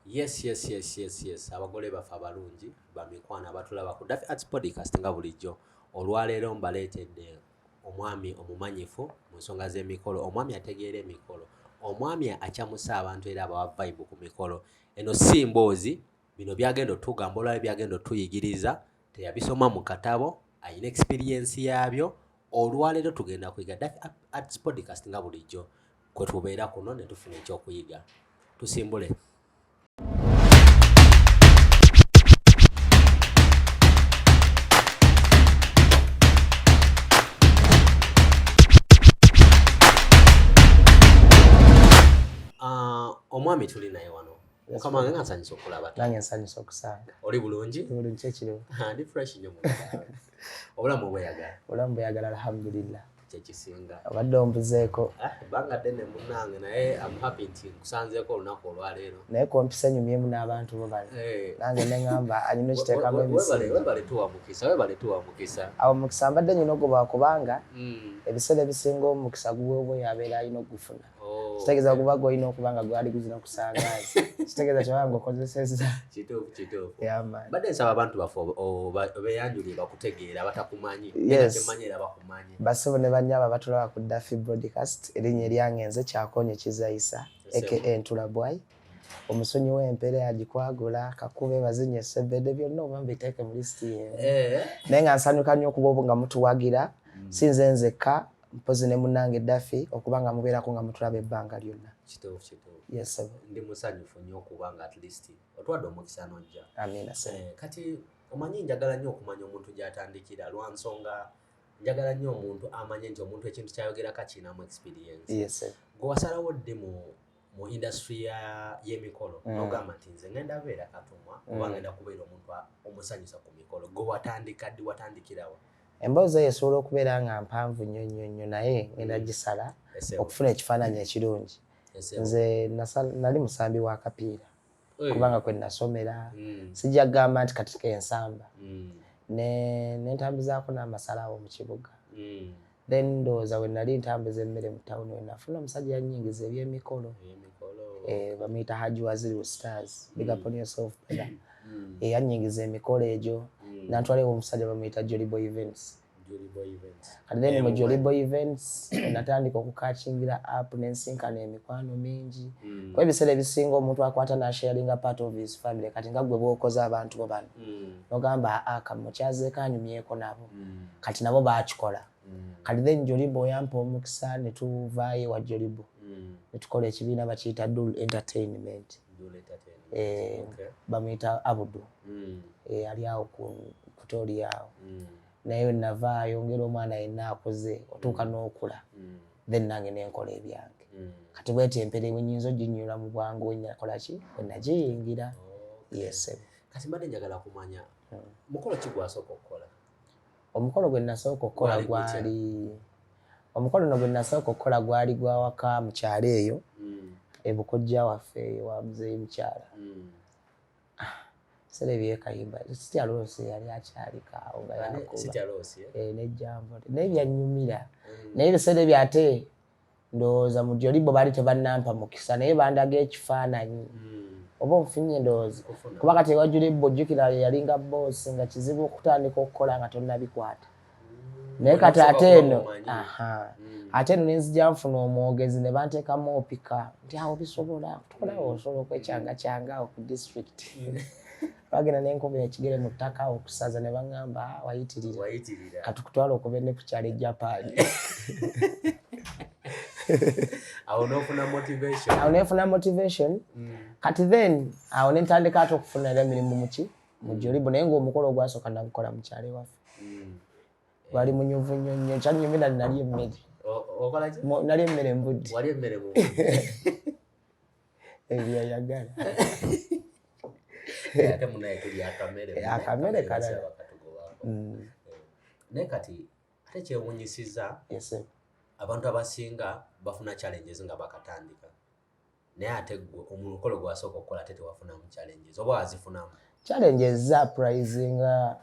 Yes, yes, yes, yes, yes. Abagole baffe abalungi bamikwana abatulaba ku Daffy Arts Podcast nga bulijjo olwaleero mbaleetedde omwami omumanyifu mu nsonga z'emikolo omwami ategeera emikolo omwami acamusa abantu era abawa vibe ku mikolo eno si mboozi bino byagenda otugamba olwali byagenda otuyigiriza teyabisoma mu katabo alina experiensi yaabyo olwaleero tugenda kuyiga Daffy Arts Podcast nga bulijjo kwe tubeera kuno ne tufuna ekyokuyiga tusimbule omwami tuli naye wano mukama wange nga nsanyusa okulaba nange nsanyusa okusanga oli bulungi bulungi kyekiriwo ndi fresh nyo obulamu bweyagala obulamu bweyagala alhamdulillah kyekisinga obadde ombuzeeko ah, banga ddene munange naye am happy nti nkusanzeeko olunaku olwaleero naye kompisa nyumyemu n'abantu bo bano eh. nange neŋamba anyina okiteekamu ebisinwebale tuwa mukisa webale tuwa mukisa awo mukisa mbadde nyina ogoba kubanga hmm. ebiseera ebisinga omukisa guweebwa oyo abeera alina okugufuna Oh. Kitegeeza okuba gwolina okuba nga gwali guzina kusangazi. Kitegeeza kyobanga ngokozesezza. Kituufu kituufu. Badde nsaba abantu baffe obeyanjulire bakutegeera abatakumanyi. Yes. Temanyi era bakumanyi. Basebo ne bannyabo abatulaba ku Daffy Broadcast erinnya eryange nze Kyakonye Kizayisa aka Ntula Bwai. omusonyi w'empere agikwagula kakube bazinye esebede byonna oba mbiteeke mu lisiti yeemu eh. naye nga nsanyuka nnyo okuba obu nga mutuwagira mm. sinze nzekka mpozi ne munange Daffy okuba nga mubeerako nga mutulaba ebbanga lyonna. Kituufu kituufu. Yes sir. Ndi musanyufu nnyo okuba nga at least otwadde omukisa n'ojja. Amiina sir. Eh, kati omanyi njagala nnyo okumanya omuntu gy'atandikira lwa nsonga njagala nnyo omuntu amanye nti omuntu ekintu ky'ayogera kakinamu experience. Yes sir. Gwe wasalawo ddi mu mu industry ya yemikolo mm. nogamba nti nze ngenda beera katumwa mm. oba ngenda kubeera omuntu omusanyusa ku mikolo gwe watandika ddi watandikirawa emboozi eyo esobola okubeera nga mpanvu nnyo nnyo nnyo naye ngenda mm. gisala okufuna ekifaananyi ekirungi nze nali musambi wa kapiira kubanga kwe nasomera mm. sijja kugamba nti kati kensamba mm. nentambuzaako n'amasalawo mu kibuga then ndowooza we nali ntambuza emmere mu tawuni we nafuna omusajja yanyingiza ebyemikolo eh, bamuyita haji waziri stars big up on yourself brother hmm. eh, yanyingiza emikolo egyo hmm. nantwala ewo omusajja bamuyita joliboy events kati then mu joliboy events natandika okukakingira app nensinkana emikwano mingi hmm. kuba ebiseera ebisinga omuntu akwata nasharinga part of his family kati nga gwe bwokoza abantu bo bano mm. nogamba ah, kamukyaze kanyumyeko nabo mm. kati nabo bakikola mm. kati then jolibo oyampa omukisa netuvayo ewa jolibo mm. netukola ekibiina bakiyita dul entertainment eh, okay. bamuyita abudu mm. eh, ali awo kutoli awo mm. naye navaayo ngeri omwana yenna akuze otuuka mm. n'okula mm. then nange nenkola ebyange Mm. kati bwetyo empere wenyinza oginyula mu bwangu wenyakolaki wenagiyingira oh, yesebe kati mbadde njagala kumanya hmm. mukolo ki gwasooka okukola omukolo gwe nasooka okukola gwali omukolo no gwe nasooka okukola gwali gwawaka mukyalo eyo hmm. ebukojja waffe eyo wa muzeeyi mukyala hmm. ah, sere byekayimba sitya loosi yali akyalikawo nga yakuba eh? eh, nejjambo naye byanyumira naye bisere byate ndowooza mu joli bo baali tebannampa mukisa naye bandaga ekifaananyi hmm. oba onfunye endowooza kuba kati ewajuli bo jjukira yalinga boosi nga kizibu okutandika okukola nga tonnabikwata hmm. naye kati ate eno hmm. ate eno nenzija nfuna omwogezi ne banteekamu opika nti awo bisobola tukola osobola okwekyanga kyanga ku disitulikiti bagenda nenkuba ekigere mu ttaka okusaza ne baŋŋamba ah, wayitirira katukutwala okuba ne ku kyalo ejapaani awo nofuna motivation awo nefuna motivation mm. kati then awo nentandika ate okufuna era emirimu muki mujolibu naye ngaomukolo ogwasooka nagukola mukyalo ewaffe mm. wali munyuvu nnyo nnyo kyanyumira nali emmere nali emmere mbudde ebyayagala ate munaye tuli akamere eh, akamere kalala bakatugobako mm. eh, naye kati ate kyewunyisiza abantu abasinga bafuna challenges nga bakatandika naye ate gwe omukolo gwasooka okukola ate tewafunamu challenges oba wazifunamu challenges zaprizinga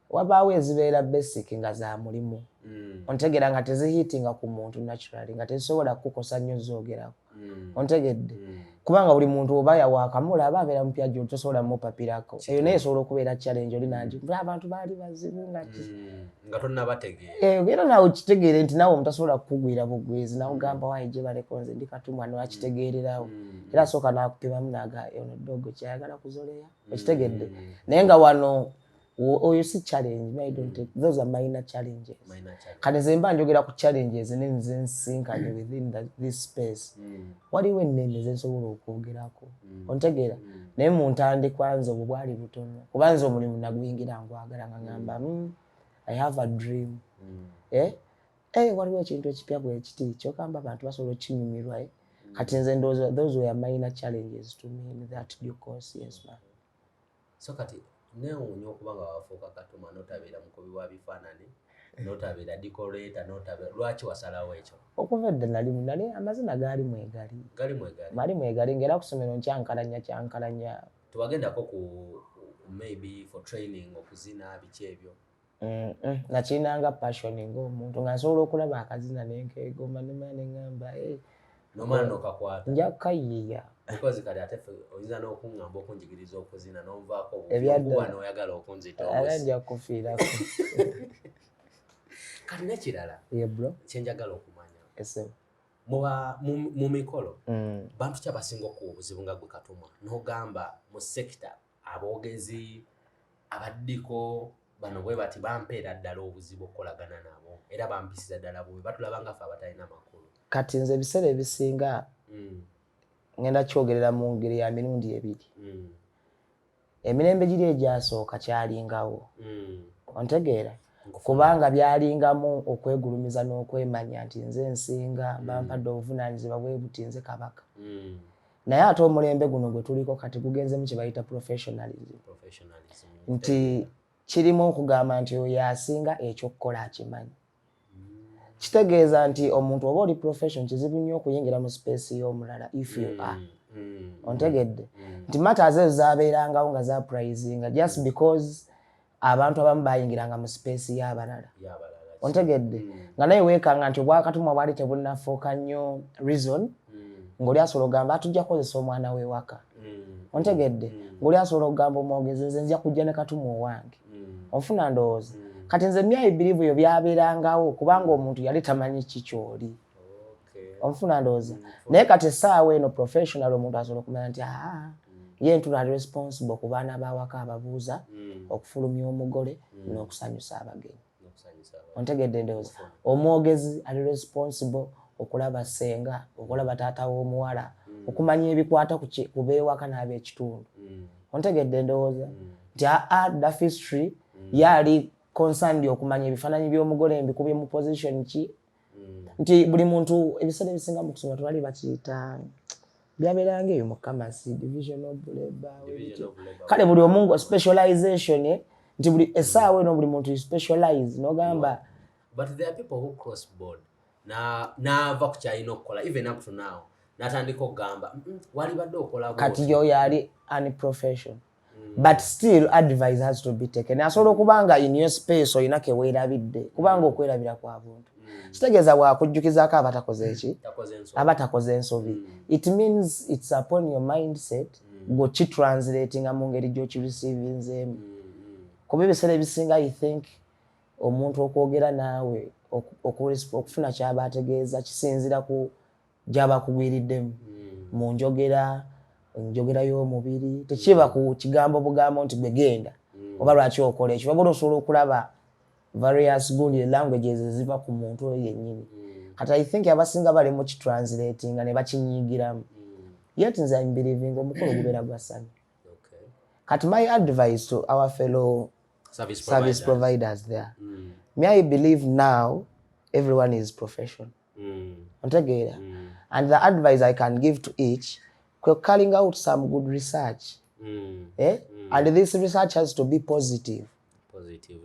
wabaawo ezibeera basic nga za mulimu mm. ontegera nga tezihitinga ku muntu naturally nga tezisobola kukukosa nnyo zoogerako mm. ontegedde mm. kubanga buli muntu oba yawakamula aba abeera mupya gyo tosobola mupapirako eyo naye esobola okubeera challenge oli nangi mm. abantu baali bazibu ngati mm. nga tonabategeera eh, era nawe kitegeere nti nawe omutasobola kukugwira bugwizi nawe ogamba mm. wayi gye baleko nze ndi katumwa newakitegeererawo era asooka nakupimamu naga ono dogo kyayagala kuzoleya okitegedde naye nga wano oyo si challenge my don't take mm. those are minor challenges minor challenge. kati nze mba njogera ku challenges ne nze nsinkanye within the, this space mm. waliwo ennene zensobola okwogerako mm. ontegeera mm. naye mu ntandikwa nze obwo bwali butono kuba nze omulimu naguyingira ngwagala nga ngamba mm. mm, i have a dream mm. eh? Hey, eh, waliwo ekintu ekipya bwekiti kyokamba abantu basobola okinyumirwa eh? mm. kati nze ndowooza those were minor challenges to me in that due course yes man so kati newuunya okuba nga wafuuka katuma notabeera mukubi wa bifaanani notabeera dikoleta notabeera lwaki wasalawo ekyo okuva edda nali nali amazina gaali mwegali gali mwegali mali mwegali ngaera kusomero nkyankalanya kyankalanya tewagendako ku maybe for training okuzina biki ebyo Mm, mm. nakirinanga passion ngaomuntu nga nsobola okulaba akazina nenkegoma nemana neŋamba eh. nomwana nokakwata nja kukayiiya because kati ate oyinza n'okuŋŋamba okunjigiriza okuzina n'onvaako obukuba n'oyagala okunzitaala nja kufiirako kati nekirala kyenjagala okumanya mu mikolo mm. bantu ki abasinga okuwa obuzibu nga gwe katuma n'ogamba mu sekita aboogezi abaddiko bano bwe bati bampeera ddala obuzibu okukolagana nabo era bampisiza ddala bubi batulaba nga fe abatalina makulu kati nze ebiseera ebisinga mm. ngenda kyogerera mu ngeri ya mirundi ebiri mm. emirembe giri egyasooka kyalingawo mm. ontegeera kubanga byalingamu okwegulumiza n'okwemanya nti nze nsinga bampadde obuvunaanyizibwa bwe buti nze kabaka naye ate omulembe guno gwe tuliko kati gugenzemu kye bayita professionalism nti kirimu okugamba nti oyo asinga ekyokukola akimanyi kitegeeza nti omuntu oba oli profession kizibu nnyo okuyingira mu space y'omulala if you mm, are mm, ontegedde mm. nti matters ezo zabeerangawo nga zaprizinga just because abantu abamu bayingiranga mu sipeesi y'abalala ontegedde mm. nga naye weekanga nti obwakatumwa bwali tebunnafuuka nnyo reason mm. ng'oli asobola okugamba atujja kukozesa omwana w'ewaka mm. ontegedde ng'oli asobola okugamba omwogezi nze nzija kujja ne katumwa owange onfuna ndowooza kati nze myayi birivu yo byabeerangawo kubanga omuntu yali tamanyi ki kyoli onfuna ndowooza naye kati essaawa eno professional omuntu asobola okumanya nti aa ye ntula responsible ku baana bawaka ababuuza mm. okufulumya omugole mm. n'okusanyusa abagenyi ontegedde ndowooza omwogezi ali responsible okulaba ssenga okulaba taata w'omuwala mm. okumanya ebikwata ku beewaka n'abekitundu ontegedde ndowooza nti aa dafistry yaali concerned okumanya ebifaananyi by'omugole mbikubye mu position ki nti buli muntu ebiseera ebisinga mu kusoma tebali bakiyita byabeeranga eyo mukamasi division of labor kale buli omu nga specialization eh, nti buli esaawa eno buli muntu specialize nogamba but there are people who cross board naava ku kyalina okukola even up to now natandika okugamba walibadde okola kati yo yali unprofessional but still advice has to be taken asobola okuba nga in your space olina keweerabidde kubanga okwerabira kwa buntu mm. kitegeeza wakujjukizako abatakoze eki mm. abatakoze ensobi mm. it means its upon your mindset gokitranslatinga mu ngeri gyokirisivinzeemu kuba ebiseera ebisinga i think omuntu okwogera naawe okufuna kyaba ategeeza kisinzira ku gyaba akugwiriddemu hmm. mu njogera njogera y'omubiri tekiba ku kigambo bugambo nti gwe genda hmm. oba lwaki okola ekyo wabula osobola okulaba various gundi languages eziva ku muntu oyo yennyini hmm. kati i think abasinga bali mu kitranslatinga ne bakinyigiramu yet nze imbelivinga omukolo gubeera gwa sami kati my advice to our fellow service providers there mm. me i believe now everyone is professional mm. otegeera mm. and the advice i can give to each kwe calling out some good research mm. eh? mm. and this research has to be positive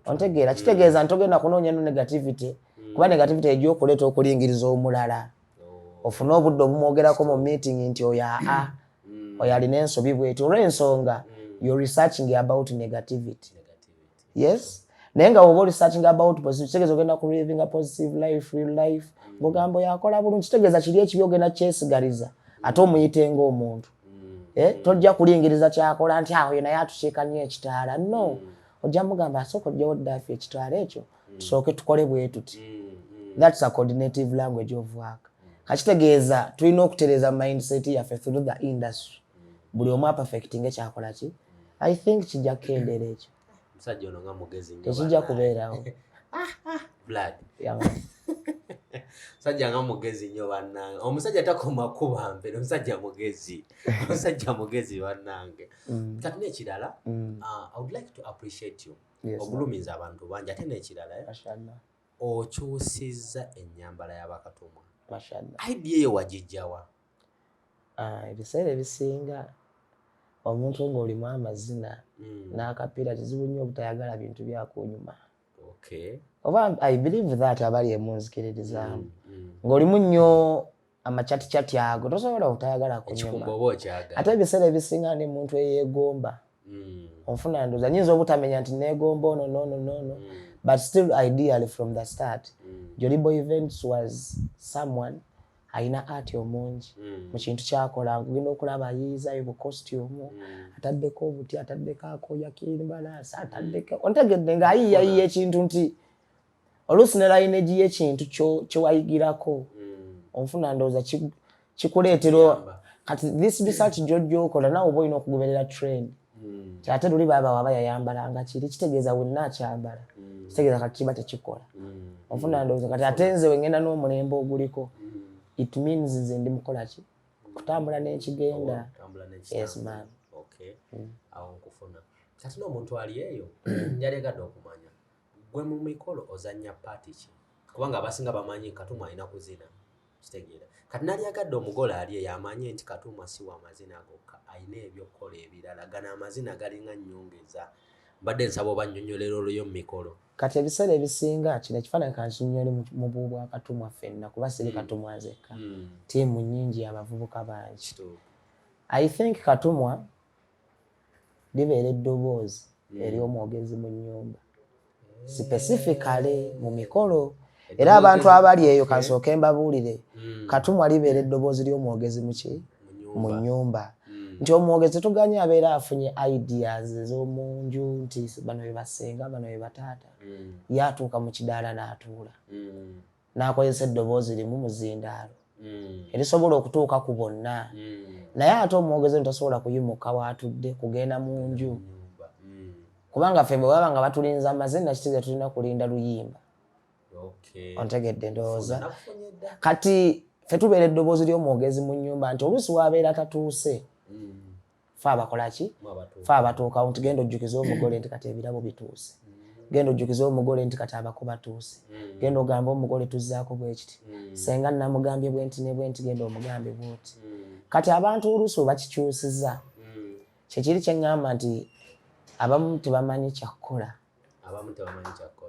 ontegeera kitegeeza mm. ntogenda kunoonya no negativity mm. kuba negativity ejja okuleeta okulingiriza omulala oh. ofune obudde obumwogerako mu meeting nti oyo aa mm. oyo alina ensobi bweti olwensonga mm. you're researching about negativity yes naye nga woba olisachinga about positive kitegeeza ogenda ku livinga positive life real life mugambo yakola bulungi kitegeeza kiri ekibi ogenda kyesigaliza ate omuyitenga omuntu mm. eh, tojja kulingiriza kyakola nti awo yena yatukiika nyo ekitaala no mm. ojja mugamba asooka ojjawo ddafi ekitaala ekyo mm. tusooke tukole bwetuti thats a coordinative language of work kakitegeeza tulina okutereza mindset yaffe through the industry buli omu apafekitinge kyakola ki i think kijja kukendeera ekyo omusajja ono nga mugezi tekijja kubeerawo blood musajja nga mugezi nnyo bannange omusajja takoma kuba mbere omusajja mugezi omusajja mugezi bannange mm. kati nekirala mm. ah, i would like to appreciate you ogulumiza abantu bangi ate nekirala eh? okyusizza ennyambala y'abakatumwa idea eyo wagijjawa Ah, ebiseera ebisinga omuntu ng'olimu amazina hmm. n'akapiira kizibu nnyo obutayagala bintu byakunyuma oba i believe that abali emunzikiririzaamu hmm, hmm. ng'olimu nnyo amacaticati ago tosobola obutayagala kunyuma ate ebiseera ebisinga ne muntu eyeegomba onfuna ndoza nyinza obutamenya nti neegomba ono nono nono but still ideally from the start jolibo events was someone alina ati omungi mm. mu kintu kyakola ngenda okulaba ayiyizayo bu costume mm. ataddeko obuti ataddeko akoya kimbalaasi ataddeko mm. ontegedde ng'ayiyayiya ekintu nti oluusi ne layinegi y'ekintu kyewayigirako onfuna ndowooza kikuleetera kati this research gyojja okola nawe oba olina okugoberera trend mm. kyate luli baba waba yayambala nga kiri kitegeeza wenna akyambala mm. kitegeeza kati kiba tekikola mm. ofuna ndowooza kati ate nze wengenda n'omulembe oguliko mm. it means nze ndi mukola ki kutambula n'ekigenda yes man okay mm. awo nkufuna kati n'omuntu ali eyo njalegadde okumanya gwe mu mikolo ozannya paati ki kubanga abasinga bamanyi katumu alina kuzina kitegeera kati nalyagadde omugole ali eyo amanye nti katuuma si wa mazina gokka alina ebyokukola ebirala gano amazina galinga nyongeza mbadde nsaba oba nnyonyolera oluyo mu mikolo kati ebiseera ebisinga kino ekifaananyi kankinyole mu bubu bwa katuumwa ffenna kuba siri mm. katuumwa nzekka mm. tiimu nyingi abavubuka bangi i think katuumwa libeera eddoboozi hmm. ery'omwogezi mu nnyumba sipesifikale mu mikolo era abantu abali eyo kansooke mbabuulire hmm. katumwa libeera eddoboozi ly'omwogezi muki mu nnyumba hmm. nti omwogezi tuganye abeera afunye ideas ez'omu nju nti bano be basenga bano be bataata yaatuuka mu kidaala n'atuula n'akozesa eddoboozi limu mu zindaalo hmm. erisobola okutuuka ku bonna hmm. naye ate omwogezi ono tasobola kuyimuka waatudde kugenda mu nju hmm. kubanga ffe bwe baba nga batulinza amaze nakitegeeza tulina kulinda luyimba ontegedde ndowooza kati ffe tubeera eddoboozi ly'omwogezi mu nnyumba nti oluusi waabeera tatuuse fe abakola ki fe abatuukawo nti genda ojjukiza omugole nti kati ebirabo bituuse mm. genda ojjukiza omugole nti kati abako batuuse mm. genda ogamba omugole tuzzaako bwekiti mm. senga namugambye bwenti ne bwenti genda omugambye bwoti kati abantu oluusi webakikyusiza kyekiri kyeŋŋamba nti abamu tebamanyi kyakukola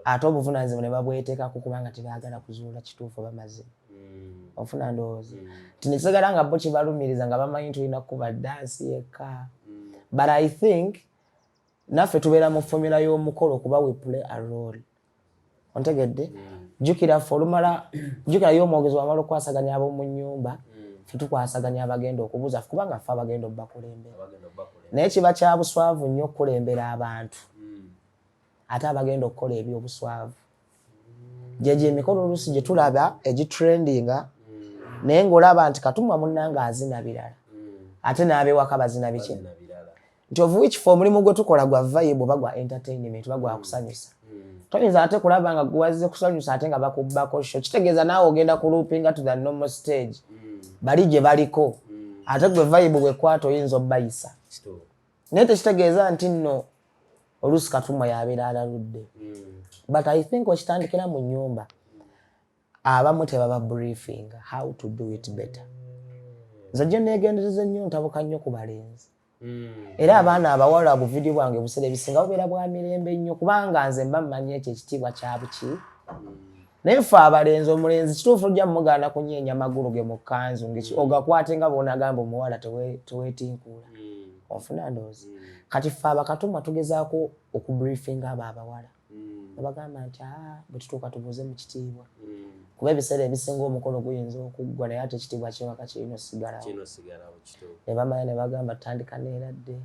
ate obuvunanyizibwa ne babweteekako kubanga tebaagala kuzuula kituufu bamaze hmm. ofuna ndowooza hmm. nti nekisigala nga bo kibalumiriza nga bamanyi nti olina kukuba dansi yekka hmm. but i think naffe tubeera mu fomula y'omukolo kuba we play a role ontegedde jjukira ffe olumala jjukira ye omwogezi wamala okukwasaganya ab'omu nnyumba ffe tukwasaganya abagenda okubuuza kubanga ffe abagenda obubakulembera naye kiba kya buswavu nnyo okukulembera abantu hmm. ate abagenda okukola ebyobuswavu gyegyo emikolo oluusi gye tulaba egitrendinga hmm. naye ng'olaba nti katumwa munnanga azina birala hmm. ate n'abewaka bazina biki nti ovuwa ekifo omulimu gwe tukola gwa vayibu oba gwa entertainment oba gwakusanyusa toyinza ate kulaba nga gwewazze kusanyusa ate nga bakubbako sho kitegeeza naawe ogenda ku loopinga to the normal stage mm. bali gye baliko mm. ate gwe vayibu bwekwata oyinza obayisa naye tekitegeeza nti nno oluusi katumwa yabeera alaludde mm. but i think okitandikira mu nyumba abamu tebaba briefinga how to do it better nze gye neegendereza ennyo ntabuka nnyo ku balenzi Mm. era abaana abawala obuvidiyo bwange obusera ebisinga bubeera bwa mirembe nnyo kubanga nze mba mmanyi ekyo ekitiibwa kyabuki mm. naye fe abalenzi omulenzi kituufu ojja mumugaana kunyeenya amagulu ge mu kkanzu mm. ogakwate nga boonagamba omuwala tewetinkuula onfuna ndoozi kati fe abakatumwa tugezaako okubriefinga abo abawala nebagamba nti ah, bwetutuuka tubuuze mu kitiibwa kuba ebiseera ebisinga omukolo guyinza okuggwa naye ate ekitiibwa kyewaka kirina osigalawo nebamanya nebagamba tutandika neeradde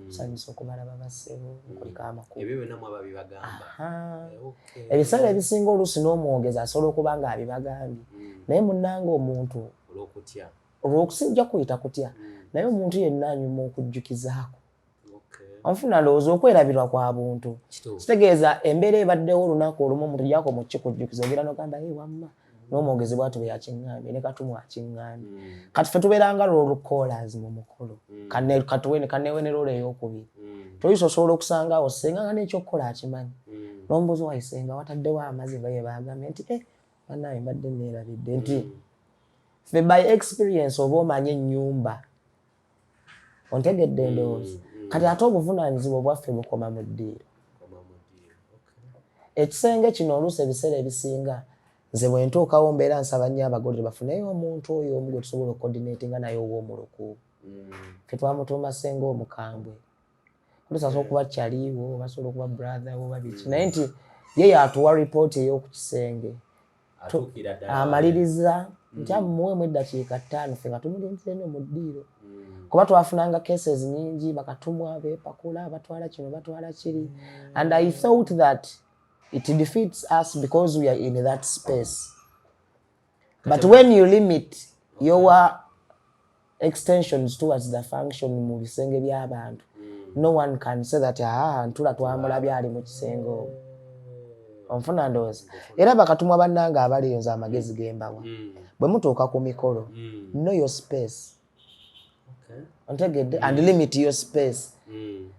tusanyusa okumala babasebo nkulika amakubuebiseera eh, ebisinga oluusi n'omwogezi asobola okuba nga abibagambye naye munange omuntu olwokusinja kuyita kutya naye omuntu yenna anyuma okujjukizaako onfuna ndowooza okwerabirwa kwa buntu kitegeeza embeera ebaddewo olunaku olumu omuntu jako mu kikujjukiza ogera nogamba ye wamma n'omwogezi bwatu bwe yakiŋŋambye ne katumu akiŋŋambye mm. kati fe tubeeranga loolu callers mu mukolo mm. katuwe ne kanewe ne loolu ey'okubiri mm. toyisa osobola okusanga awo senga nga n'ekyokukola akimanyi n'omubuzi wayisenga wataddewo amazi nga ye baagambye nti e eh, banaye mbadde neerabidde nti fe by experience oba omanye ennyumba ontegedde endowooza mm, mm. kati ate obuvunaanyizibwa obwaffe bukoma mu ddiiro ekisenge kino oluusi ebiseera ebisinga nze bwe ntuukawo mbeera nsaba nnyo abagolere bafuneyo omuntu oyo omu gwe tusobola okodineeti nga naye ow'omuluku mm. fe twamutuuma senga omukambwe olusasobola okuba kyaliwo basobola okuba brother wo babiki mm. naye nti ye yatuwa ripooti ey'okukisenge amaliriza mm. nti amuwemu eddakiika ttaano fe nga tumulinzire no mu ddiiro mm. kuba twafunanga cases nyingi bakatumwa bepakula batwala kino batwala kiri and i thought that it defeats us because we are in that space but when you limit your extensions towards the function mu bisenge by'abantu hmm. no one can say that aa ah, ntula twamulabye ali mu kisenge obo onfuna ndowooza era bakatumwa bannanga abaliyo nze amagezi gembawa hmm. bwe mutuuka ku mikolo hmm. no your space ontegedde and limit your space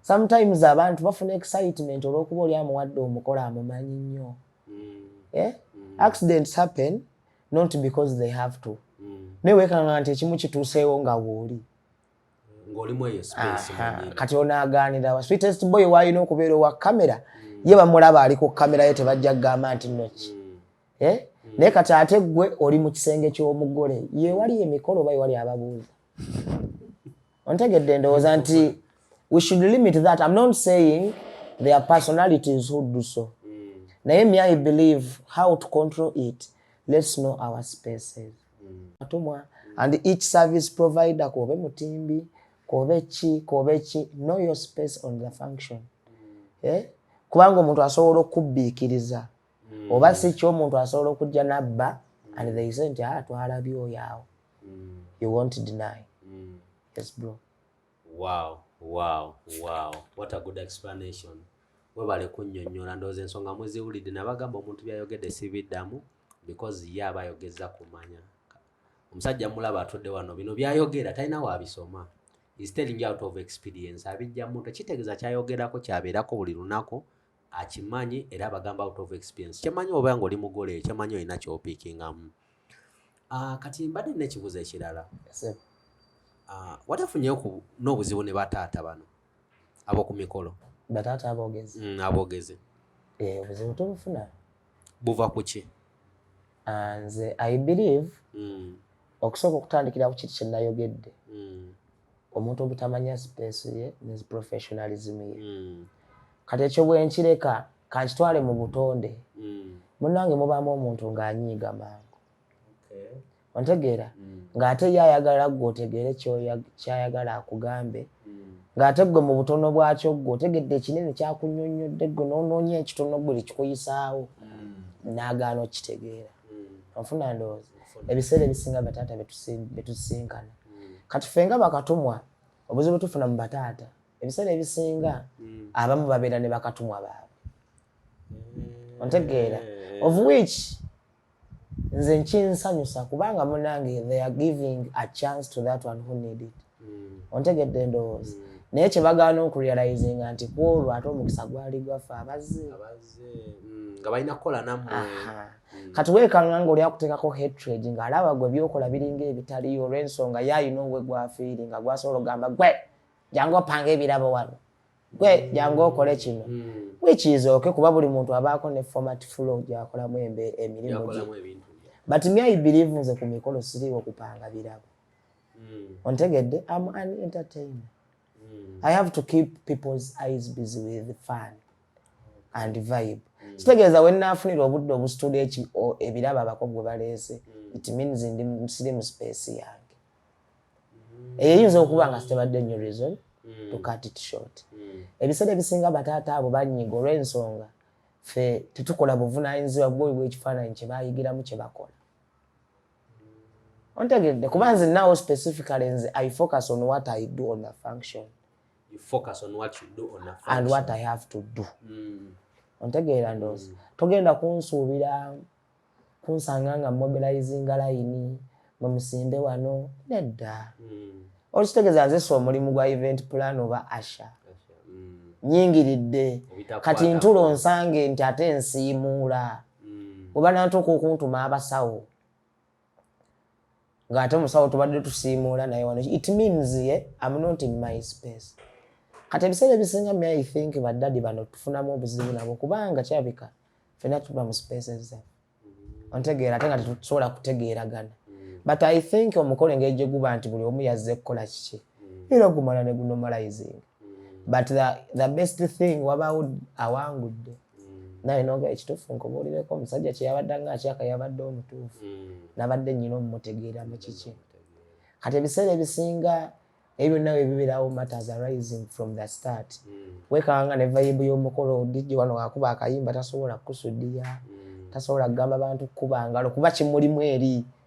sometimes abantu bafuna excitement olw'okuba oli amuwadde omukolo amumanyi nnyo mm. yeah? accidents happen not because they have to mm. naye wekanga nti ekimu kituuseewo nga wooli kati onaaganira wa sweetest boy waalina okubeera owa kamera mm. ye bamulaba ali ku kamera ye tebajja kugamba nti noki mm. eh? mm. naye kati ate gwe oli mu kisenge ky'omugole ye wali emikolo oba ye wali ababuuza ontegedde ndowooza nti we should limit that i'm not saying there are personalities who do so mm. naye me i believe how to control it let's know our spaces mm. atumwa mm. and each service provider kobe mutimbi kobe ki kobe ki know your space on the function mm. eh? kubanga omuntu asobola okubbiikiriza mm. oba si kyo omuntu asobola okujja nabba mm. and they say nti ah, twalabye oyo awo mm. you won't deny mm. yes bro wow wow wow what a good explanation webale kunyonyola ndowooza ensonga muziwulidde nabagamba omuntu byayogedde sibiddamu because ye aba ayogeza kumanya omusajja mulaba atudde wano bino byayogera talina wabisoma is telling out of experience abijja muntu kitegeeza kyayogerako kyabeerako buli lunaku akimanyi era abagamba out of experience kyemanyi oba nga oli mugole kyemanyi olina kyopikingamu ah, kati mbadde nekibuzo ekirala ah, watafunyeyo n'obuzibu ne bataata bano aboku mikolo bataata abogezi mm, abogezi eh, obuzibu tubufuna buva ku ki ah, nze i believe mm. okusooka okutandikira ku kiti kyenayogedde mm. omuntu obutamanya space ye ne professionalism ye mm. kati ekyo bwenkireka kankitwale mu butonde mm. munange mubaamu omuntu ng'anyiiga mangu okay. ontegeera mm. ng'ate ye ayagala gwe otegeere kyayagala akugambe mm. ng'ate gwe mu butono bwakyo gwe otegedde ekinene kyakunyonnyodde gwe noonoonya ekitono gwe likikuyisaawo mm. naagaana okukitegeera onfuna ndowooza ebiseera ebisinga bataata betusisinkana hmm. kati fe nga bakatumwa obuzibu tufuna mu bataata ebiseera ebisinga hmm. abamu babeera ne bakatumwa baabwe hmm. ontegeera of which nze nkinsanyusa kubanga munange they are giving a chance to that one who need it ontegedde endowooza naye kyebagaana okurealizinga nti kwolwo ate omukisa gwali gwaffe abazze nga balina kukola namwe mm. kati wekanula nga oli akuteekako hatred nga alaba gwe byokola biringa ebitaliyo olw'ensonga ye alina owe gwafiiri nga gwasobola okugamba gwe jangu opanga ebirabo wano gwe mm. jangu okole kino mm. wikiizooke kuba buli muntu abaako ne format flow gyakolamu emirimu gye but me i believe nze ku mikolo siriwo kupanga birabo mm. ontegedde am an entertainer mm. i have to keep people's eyes busy with fun and vibe mm. kitegeeza wenaafunira obudde obusitula eki ebirabo abako gwe baleese mm. it means ndi musiri mu space yange mm. eyo eyinza okuba nga sitebadde nyo reason mm. to cut it short mm. ebiseera ebisinga bataata abo banyiga olw'ensonga fe tetukola buvunanyizibwa bwobi bwekifaananyi kyebayigiramu kyebakola ontegedde kuba nze nawo specifically nze i focus on what i do on a function you focus on what you do on a function and what i have to do mm. ontegeera ndoozi mm. togenda kunsuubira kunsanga nga mobilizinga layini mumusimbe wano nedda mm. olukitegeeza nze si omulimu gwa event plan oba asha mm. nyingiridde kati ntulo nsange nti ate nsiimuula mm. mm. webanantuuka okuntuma abasawo ngaate musawo tubadde tusiimuula naye wano it means ye eh, am not in my space kati ebiseera ebisinga me i think badadi bano tufunamu obuzibu nabo kubanga kyabika fena tuba mu spaces zaffe ontegeera ate nga tetusobola kutegeeragana mm. but i think omukolo engeri gye guba nti buli omu yazze kukola kiki mm. era ogumala ne gunomalizing mm. but the, the best thing wabaawo awangudde naye noga ekituufu nkubuulireko omusajja kyeyabadde nga akyaka yabadde omutuufu hmm. nabadde nyina omumutegeera mu kiki kati ebiseera ebisinga ebyo nawe bibirawo matters arising from the start hmm. wekanga ne vayibu y'omukolo digi wano akuba akayimba tasobola kukusudiya hmm. tasobola kugamba bantu kukuba ngalo kuba kimulimu eri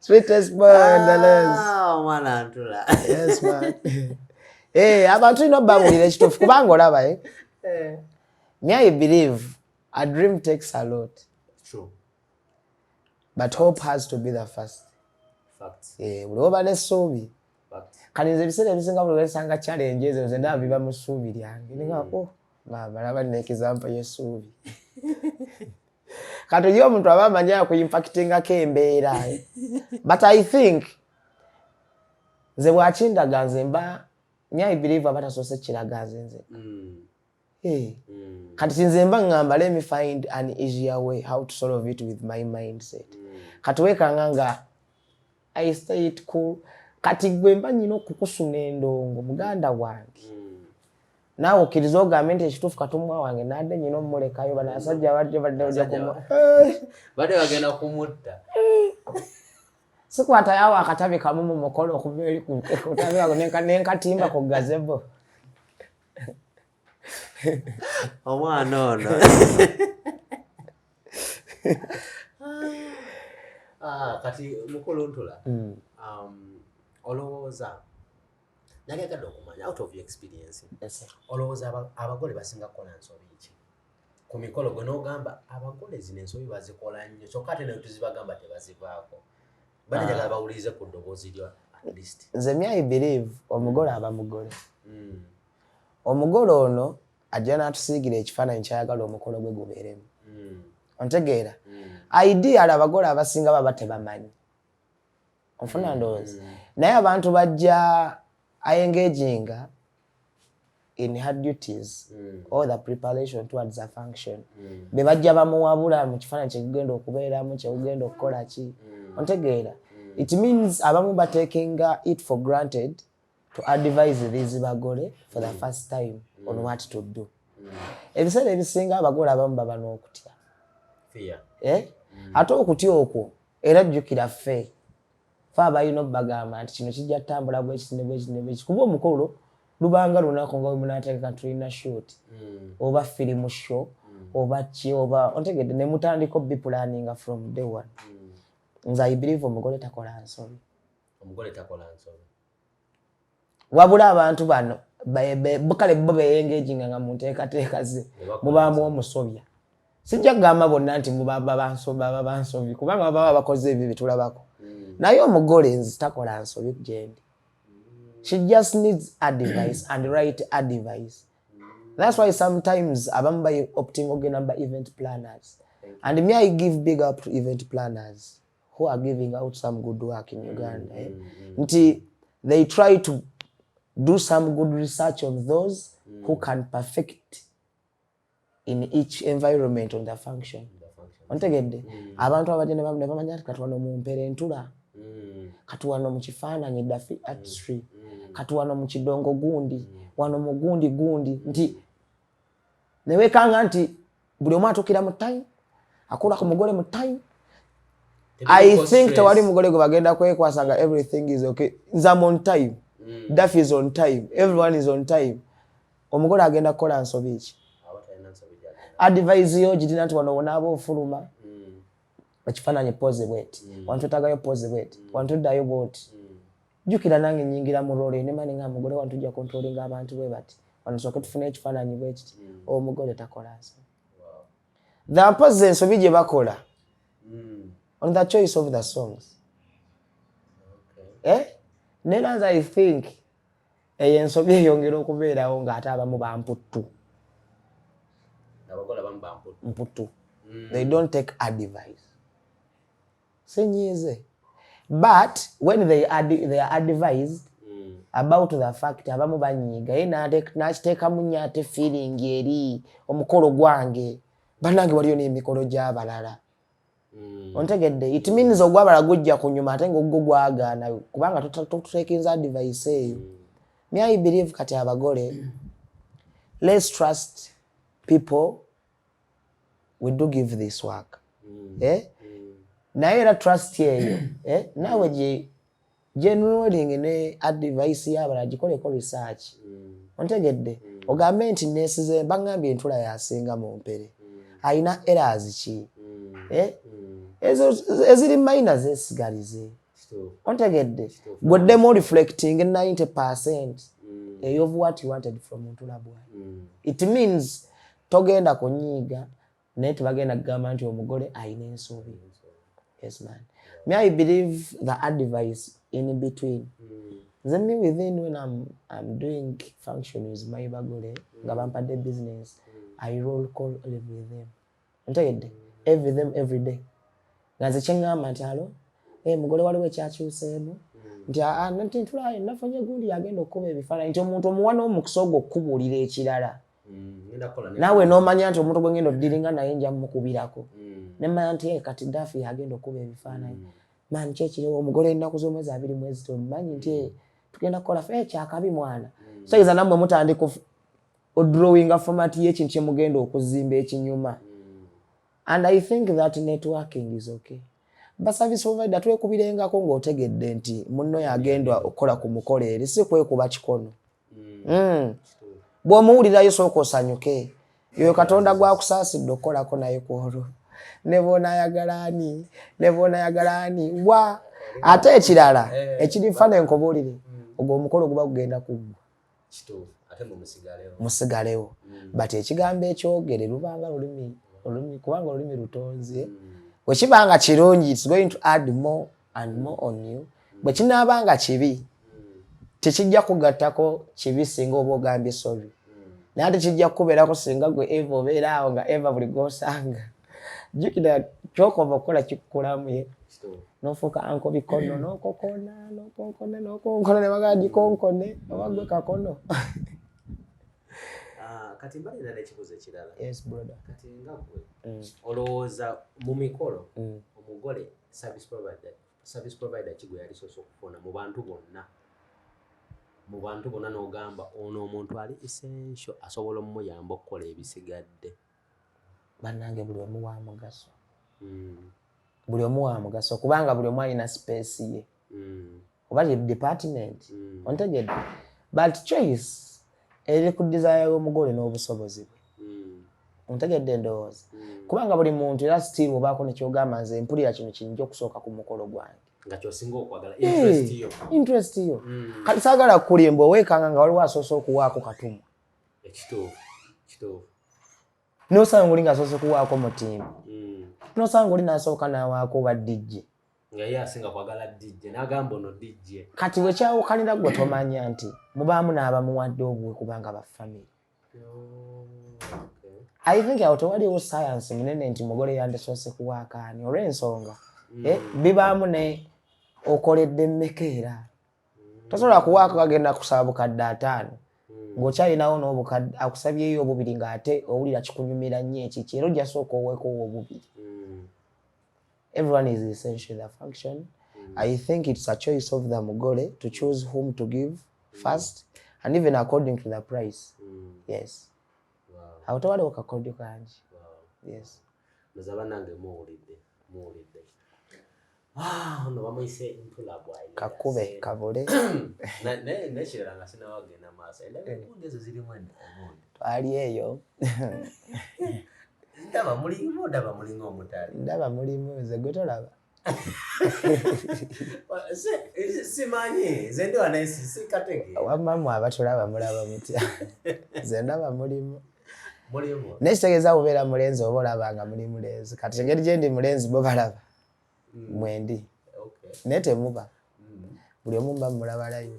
Sweetest man, oh, mwana antula. Yes man. Eh, abantu ino bamulira ekitufu kubanga olaba eh. eh. Me I believe a dream takes a lot. True. But hope has to be the first. Fact. Eh, uliwo bane sobi. kale nze ebiseera ebisinga buli wesanga challenge ezo nze ndaba biba mu ssuubi lyange ninga mm. oh maama laba nina ekizampa y'essuubi kati oyo omuntu aba amanyi akuimpactingako embeera but i think nze bwakindaga nze mba nyi i believe abatasoose kiraga nze nzeka mm. Hey. Mm. Kati sinze mba ngamba let me find an easier way how to solve it with my mindset. Mm. Kati wekanga nga I stay it cool. Kati gwe mba nyina okukusuna endongo muganda wange. Mm. Nawe okiriza ogambe nti ekituufu katumwa wange nadde nyina omulekayo bana asajja badde badde oja kumu. Badde bagenda kumutta. Sikwata yawo akatabi kamu mu mukolo okuva eri ku kutabi wako nenkatimba ku gazebo. omwana ono ah, kati mukulu ntula hmm. um, olowooza nali agadde okumanya out of your experience olowooza abagole basinga kukola nsobi ki ku mikolo gwe n'ogamba abagole zino ensobi bazikola nnyo kyokka ate nayo tuzibagamba tebazivaako bana njagala ah. bawulirize ku ddoboozi lyo at least nze mi i believe omugole aba mugole hmm. omugole ono ajja n'atusiigira ekifaananyi kyayagala omukolo gwe gubeeremu hmm. ontegeera hmm. ideal abagole abasinga baba tebamanyi onfuna ndowooza naye abantu bajja ayengeejinga in her duties mm. or the preparation towards a function mm. be bajja bamuwabula mu kifaananyi kyekugenda okubeeramu kyekugenda okukola ki mm. ontegeera mm. it means abamu batekinga it for granted to advise these bagole for the mm. first time mm. on what to do mm. ebiseera ebisinga abagole abamu baba n'okutya eh? mm. ate okutya okwo era jjukira fee fe abalina obubagamba nti kino kijja kutambula bwekiti ne bwekiti ne bwekiti kuba omukolo lubanga lunaku nga wemunategeka tulina shot mm. oba firimu show mm. oba ki oba ontegedde ne mutandika obi pulaninga from day one mm. nze i believe omugole takola nsobi omugole takola nsobi wabula abantu bano kale bo beyengeginga nga munteekateeka ze mubaamu omusobya sijja kugamba bonna nti babansobi kubanga bababa bakoze ebyo byetulabako hmm. naye omugole nzi takola nsobi gyendi she just needs advice and right advice that's why sometimes abamu bayi opting ogenda ba event planners and me i give big up to event planners who are giving out some good work in Uganda eh? mm -hmm. nti they try to do some good research on those mm -hmm. who can perfect in each environment on the function ontegedde mm -hmm. abantu abadde nebamanya ti kati wano mumpera entula mm -hmm. kati wano mu kifaananyi dafi artistry mm -hmm. kati wano mu kidongo gundi mm -hmm. wano mu gundi gundi nti newekanga nti buli omu atukira mu time akula ku mugole mu time i think tewali mugole gwe bagenda kwekwasa nga everything is okay nzam on time mm. daf is on time everyone is on time omugole agenda kukola nsobi ki advise yo girina nti wano wonaaba ofuluma mm. ekifaananyi pozi bweti mm. wantutagayo pozi bweti mm. wantuddayo bwoti mm. jukira nange nyingira mu role ne mani nga mugole wantu ja controlling abantu bwe bati wano soke tufune ekifananyi bwe kiti mm. o oh, mugole takola nso wow. the pose ensobi je bakola mm. on the choice of the songs okay. eh ne lanza i think e ensobi eyongera okubera o nga ata abamu ba mputtu abakola bamu ba mputtu mputtu mm. they don't take advice senyiize but when they, ad, they are advised mm. about the fact abamu banyiiga ye nakiteekamu nyo ate feeling eri omukolo gwange banange waliyo n'emikolo gy'abalala mm. ontegedde it means ogwabala gujja kunyuma ate nga ogwo gwagaana kubanga tutekinza advice eyo mm. me i believe kati abagole let's trust people we do give this work mm. eh? mm. naye era trust eyo eh? naawe gyenwelingi ne advice yabala gikoleko research mm. ontegedde mm. ogambe nti nesize bagambye entula yasinga mu mpere mm. alina eras ki mm. eh? mm. ezo eziri maina zesigalize ontegedde gweddemu reflecting 90 percent mm. eyof what you wanted from ntula bwa mm. it means togenda kunyiiga naye tebagenda kugamba nti omugole alina ensuubi yes man me i believe the advice in between mm. nze me within when I'm, I'm doing functions my bagole nga bampadde business mm. i roll call every them ntegedde every them every day nga nze kyeŋŋamba nti alo eh, mugole waliwo ekyakyuseemu mm. nti ah, ah, nti ntulayo nafunye gundi yagenda okukuba ebifaananyi nti omuntu omuwa n'omukisa ogwo okukubuulira ekirala mm, naawe nomanya nti omuntu gwengenda odiringa naye nja mukubirako mm. nemanya nti eh, kati dafi agenda okukuba ebifaananyi mm. mani kyekiriwo omugole enaku zomwezi abiri mwezi tomanyi nti eh, tugenda kukola fe eh, kyakabi mwana soyiza nammwe mutandika odrawinga format yekintu kyemugenda okuzimba ekinyuma and i think that networking is okay baservice provider twekubirengako ng'otegedde nti munno yagendwa okukola ku mukolo eri si kwekuba kikono hmm. bw'omuwulirayo sooka osanyuke yoyo katonda gwakusaasidde okukolako naye ku olwo ne bwonaayagala ani ne bwonaayagala ani wa ate ekirala eh, ekirifa ne nkobuulire hmm. ogwo omukolo guba gugenda kuggwa musigalewo hmm. but ekigambo ekyogere lubanga lulimi kubanga olulimi lutonze wekiba nga kirungi its going to add more and more on you bwe kinaaba nga kibi tekijja kugattako kibi singa oba ogambye sorry naye ate kijja kukubeerako singa gwe eva obeera awo nga eva buli gwosanga jukira kyokova okukola kikukulamu ye nofuuka anko bikono nokokona nokonkona nokonkona nebagagikonkone oba gwe kakono ah, kati mbali nana ekibuzo ekirala kati nga gwe mm. olowooza mu mikolo mm. omugole service provider service provider kigwe yali soso kufona mu bantu bonna mu bantu bonna n'ogamba ono omuntu ali essential asobola omuyamba okukola ebisigadde bannange buli omu wa mugaso hmm. buli omu wa mugaso kubanga buli omu alina sipeesi ye mm. oba ye department mm. ontegedde but choice eri ku desire y'omugole n'obusobozi bwe mm. ontegedde endowooza mm. kubanga buli muntu era still obaako nekyogamba nze mpulira kino kinyinja okusooka ku mukolo gwange interest yo mm. kati saagala kukulimba owekanga nga waliwo asoose okuwaako katumwa nosanga oli nga asoose kuwaako mutimba mm. nosanga oli nasooka nawaako badijje nga ye asinga kwagala dijje nagamba ono dijje kati wekyawukanira gwe tomanya nti mubaamu n'abamuwadde obuwe kubanga bafamiry i think awo tewaliwo sayansi munene nti mugole yandisoose kuwaakaani olw'ensonga mm. eh, bibaamu ne okoledde mmeka era mm. tosobola kuwaako kagenda kusaba bukadde ataano mm. ng'okyalinawo n'obukadde akusabyeyo obubiri ng'ate owulira kikunyumira nnyo ekiki era ojasooka oweekoowa obubiri everyone is essential in their function mm. i think it's a choice of the mugole to choose whom to give mm. first and even according to the price mm. yes awo tewaliwo kakodyo kangi yes nze banange muwulidde muwulidde ah, ono bamuyise ntula bwayi kakube kabule nekirala nga sinawo agenda maaso endaga ezo zirimu endi twali eyo ndaba mulimu ndaba mulinga omutali ndaba mulimu nze gwe tolaba simanyi nze ndi wanaye sikatege wamma mwe abatulaba mulaba mutya nze ndaba mulimu naye kitegeeza kubeera mulenzi oba olaba nga muli mulenzi kati engeri gyendi mulenzi bo balaba mm. mwendi naye temuba mm. buli omu mba mulabalaivu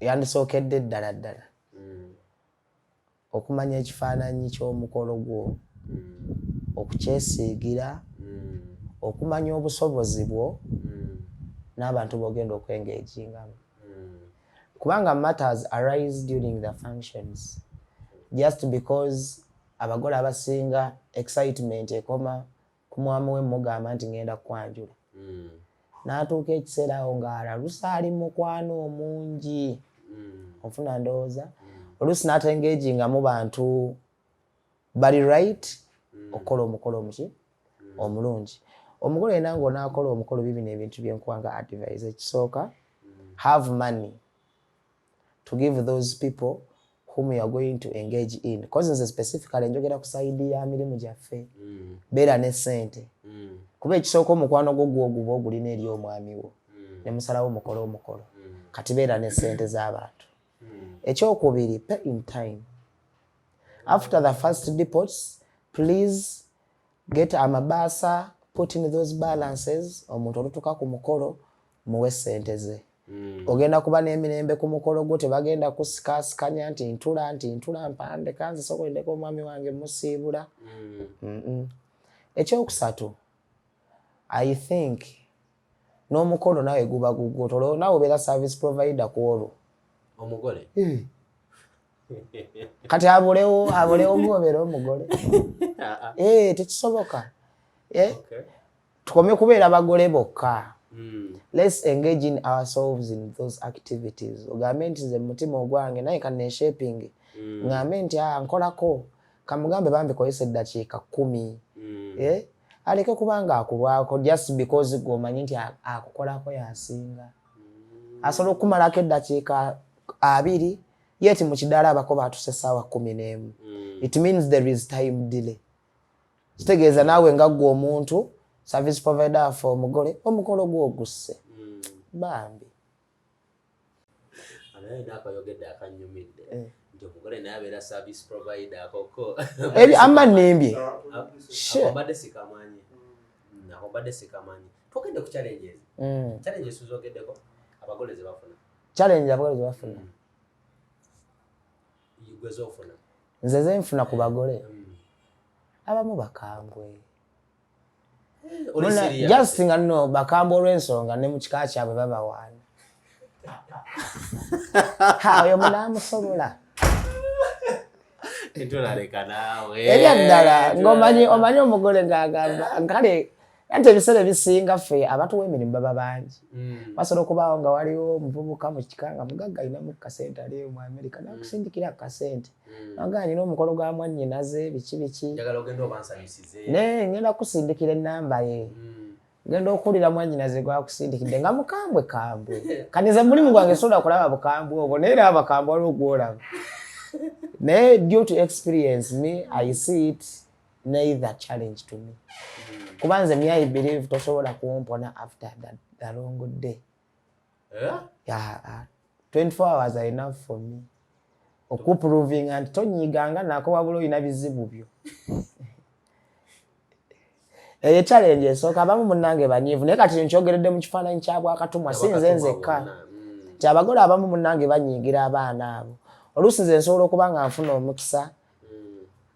yandisookedde ddala ddala mm. okumanya ekifaananyi ky'omukolo gwo mm. okukyesiigira mm. okumanya obusobozi bwo n'abantu bogenda okwengeejingamu kubanga matters arise during the functions just because abagole abasinga excitement ekoma ku mwami we mugamba nti ngenda kwanjula mm. natuuka ekiseera awo ng'alaluse ali mukwano omungi mm. ofuna ndowooza mm. oluusi natengeji nga mu bantu bali right mm. okukola omukolo omuki mm. omulungi omukolo yena ngaonakola omukolo bibino ebintu byenkuwa nga advise ekisooka mm. have money to give those people whom you are going to engage in because nze specifically njogera ku side ya mirimu gyaffe mm. beera ne sente mm. kuba ekisooka omukwano gwo gwoguba ogulina eri omwami wo mm. ne musalawo mukole omukolo mm. kati beera ne sente z'abantu mm. ekyokubiri pay in time after the first depots please Get amabaasa put in those balances omuntu olutuka ku mukolo muwe sente ze mm. ogenda kuba n'emirembe ku mukolo gwo tebagenda kusikasikanya nti ntula nti ntula mpande kanze sokolindeko omwami wange musiibula mm. mm -mm. ekyokusatu i think n'omukolo nawe guba gugwo toloo nawe obeera service provider ku olwo omugole mm. kati abulewo abulewo gobera omugole eh, tekisoboka eh? tukome kubeera bagole bokka Mm. Let's engage in ourselves in those activities. Ogambe nti nze mutima ogwange naye kanne shaping. Mm. Ngambe nti ah nkolako kamugambe bambi kozesa eddakiika kkumi. Mm. Eh? Aleke kubanga akulwako just because gwe omanyi nti akukolako yasinga. Mm. Asobola okukumalako eddakiika abiri yet mu kidaala abako baatuse essaawa kumi n'emu hmm. it means there is time delay kitegeeza naawe nga ggwe omuntu service provider afe omugole omukolo gwogusse hmm. bambi ama nembye challenge abagole zebafuna nze zenfuna ku bagole abamu bakambwe eh, just nga no bakambwe olw'ensonga ne mu kika kyabwe babawaana oyo munaamusobola ebyaddala ngaomanyi omugole ngaagamba kale anti ebiseera ebisinga ffe abatuwa emirimu baba bangi mm. basobola okubaawo nga waliwo omuvubuka mu kika nga mugagga alinamu kasente ali mu amerika mm. nakusindikira akasente mm. nanga alina omukolo gwa mwannyinaze biki biki naye ngenda kusindikira ennamba ye ngenda okuwulira mwannyinaze gwakusindikidde nga mukambwe kambwe kaniza mulimu gwange sobola okulaba bukambwe obwo naye era abakambwe waliwo gwolaba naye due to experience me i see it neither challenge to me kuba nze mi i believe tosobola kuwompona after that, the long day yeah? Yeah, uh, 24 hours are enough for me okuprovinga nti tonyiganga nako wabula olina bizibu byo eyo challenge esooka abamu munange banyiivu naye kati nkyogeredde mu kifaananyi kya bwakatumwa si nze nzekka mm. nti abagole abamu munange banyiigira abaana abo oluusi nze nsobola okuba nga nfuna omukisa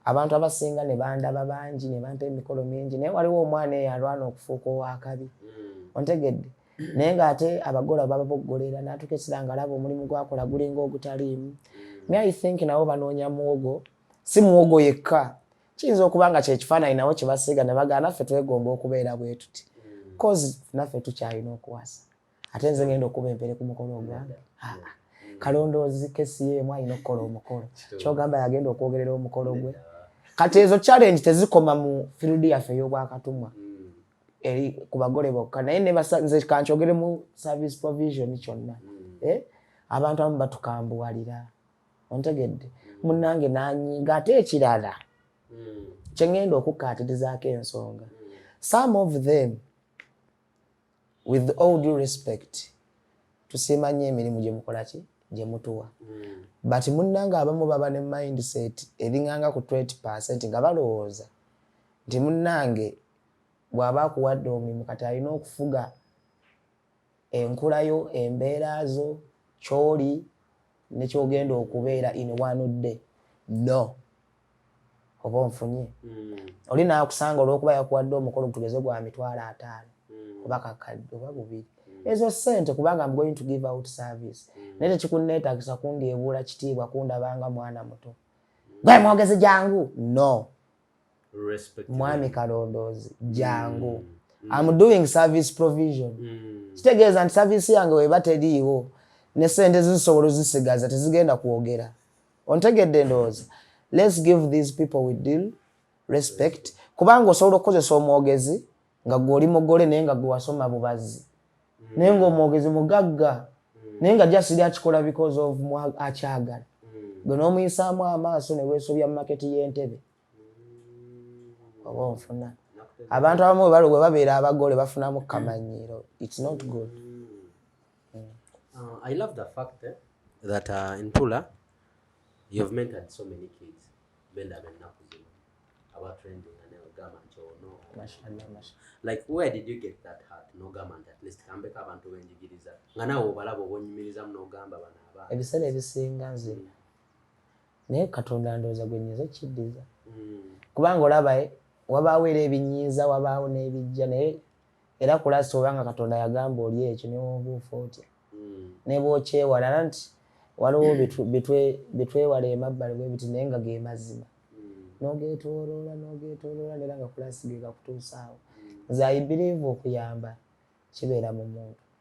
abantu abasinga ne bandaba bangi ne bampa emikolo mingi naye waliwo omwana eyo alwana okufuuka ow'akabi hmm. ontegedde naye ng'ate abagola bababoggolera n'atuuka ekiseera ng'alaba omulimu gwakola gulinga ogutaliimu hmm. me i think nabo banoonya muwogo si muwogo yekka kiyinza okuba nga kyekifaananyi nawo kye basiiga ne bagaana ffe twegomba okubeera bwe tuti hmm. cause naffe tukyalina okuwasa ate nze ngenda okuba empere ku mukolo ogwange kalondoozi kesi yemu alina okukola omukolo kyogamba yagenda okwogerera omukolo gwe kati ezo challenge tezikoma mu field yaffe ey'obwakatumwa eri ku bagole bokka naye nze kankyogere mu service provision kyonna eh? abantu abamu batukambuwalira ontegedde munange nanyiga ate ekirala hmm. kyengenda okukkaatirizaako ensonga hmm. some of them with all due respect tusiima nnyo emirimu gye mukola ki gye mutuwa hmm. but munnanga abamu baba ne mindset eringanga ku 20 percent nga balowooza nti munnange bw'aba akuwadde omulimu kati alina okufuga enkula yo embeera zo kyoli nekyogenda okubeera in one day no oba onfunye hmm. oli nakusanga olwokuba yakuwadde omukolo gutugeze gwa mitwalo ataano hmm. oba kakadde oba bubiri hmm. ezo sente kubanga am going to give out service naye tekikunneetagisa kundyebuula kitiibwa kundabanga mwana muto gwe mwogezi jangu no mwami kalondoozi jangu am doing service provision kitegeeza nti service yange weba teriiwo ne sente zisobola ozisigaza tezigenda kwogera ontegedde ndowooza let's give these people we deal respect kubanga osobola okukozesa omwogezi nga gwe oli mugole naye nga gwe wasoma bubazi mm. naye ngaomwogezi mugagga mm. naye nga jasiri akikola because of akyagala mm. gwe nomuyisaamu amaaso newesobya mumaketi yentebe oba onfuna abantu abamu webali webabeera abagole bafunamu kamanyiiro its not good mm. uh, i love the fact eh, that uh, in tula you've mentored so many kids benda bennaku zino abatrending anegamba nti ono like where did you get that heart nogamba nti at least kambeko abantu benjigiriza nga nawe obalaba obonyumirizamu nogamba bana abaana ebiseera ebisinga nzina mm. naye katonda ndowooza gwe nyinza okiddiza kubanga olaba eh, wabaawo era ebinyiiza wabaawo n'ebijja naye era kulasi obanga katonda yagamba oli ekyo newobuufa otya hmm. nebwokyewala era nti waliwo bitwewala emabbali bwebiti naye nga ge mazima hmm. nogetoloola nogetoloola nera nga kulasi gegakutuusaawo hmm. nze aibiriivu okuyamba kibeera mu muntu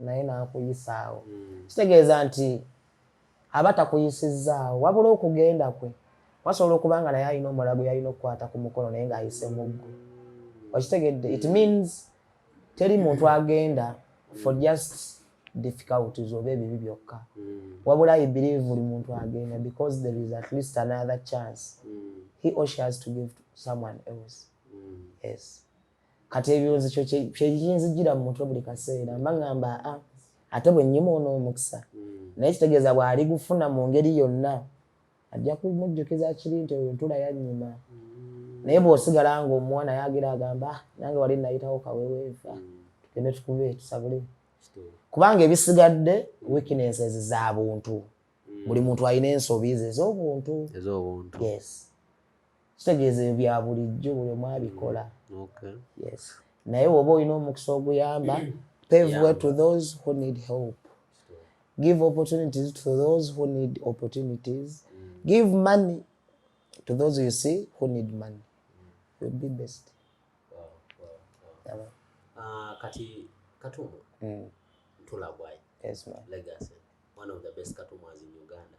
naye n'akuyisaawo hmm. kitegeeza nti aba takuyisizzaawo wabula okugenda kwe wasobola okuba nga naye alina omulala gwe yalina okukwata ku mukono naye ng'ayise muggo hmm. okitegedde it means teri muntu agenda for just difficulties oba ebibi byokka hmm. wabula i believe buli muntu agenda because there is at least another chance he or she has to give to someone else yes kati ebibuuzo kyo kyekinzijira mu mutwe buli kaseera mba ngamba a ah, ate bwe nnyuma ono omukisa hmm. naye kitegeeza bw'ali gufuna mu ngeri yonna ajja kumujjukiza kiri nti oyo ntula yannyuma hmm. naye bw'osigala ng'omuwa naye agira agamba ah, nange wali nayitawo kaweweeva hmm. tugende tukube tusabule kubanga ebisigadde weaknesses za buntu buli muntu alina ensobi ze ez'obuntu yes kitegeeza ebyo bya bulijjo buli omu abikola yes naye woba olina omukisa oguyamba pave way to those who need help give opportunities to those who need opportunities mm. give money to those you see who need money will be best ah, kati katumbu mm. tulagwayo legacy one of the best katumu as in uganda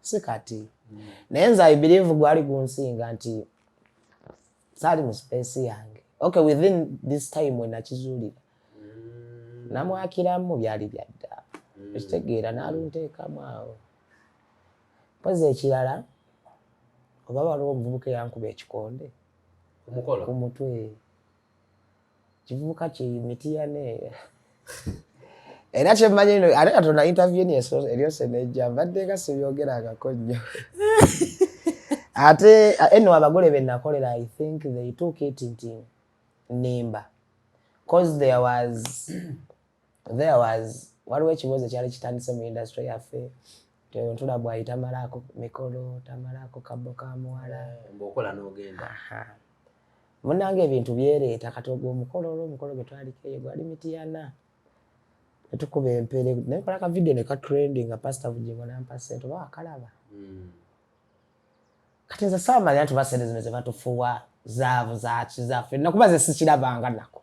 si kati mm. naye nze i believe gwali gunsinga nti saali mu space yange okay within this time we nakizuulira mm. namwakiramu byali byadda mm. ekitegeera nalunteekamu awo mpozi ekirala oba waliwo omuvubuka eyankuba ekikonde ku mutwe kivubuka ki mitiya ne era kyemmanyi no ate katonda interview ni eryose nejja mbadde nga sibyogerangako nnyo ate eno abagole be nakolera i think they took it nti nimba cause there was there was waliwo ekibuuzo kyali kitandise mu industry yaffe ntula bwayi tamalaako mikolo tamalaako kabbo ka muwala eh, munange ebintu byeleeta kati ogwo omukolo olwo omukolo gwe twaliko eyo gwali mitiyana netukuba empere naye kola ka video ne ka trend nga pastor vujingo nampa sente oba wakalaba hmm. kati nze saamanya nti basente zino zebatufuwa zaavu zaki zaffe nakuba ze sikirabanga nako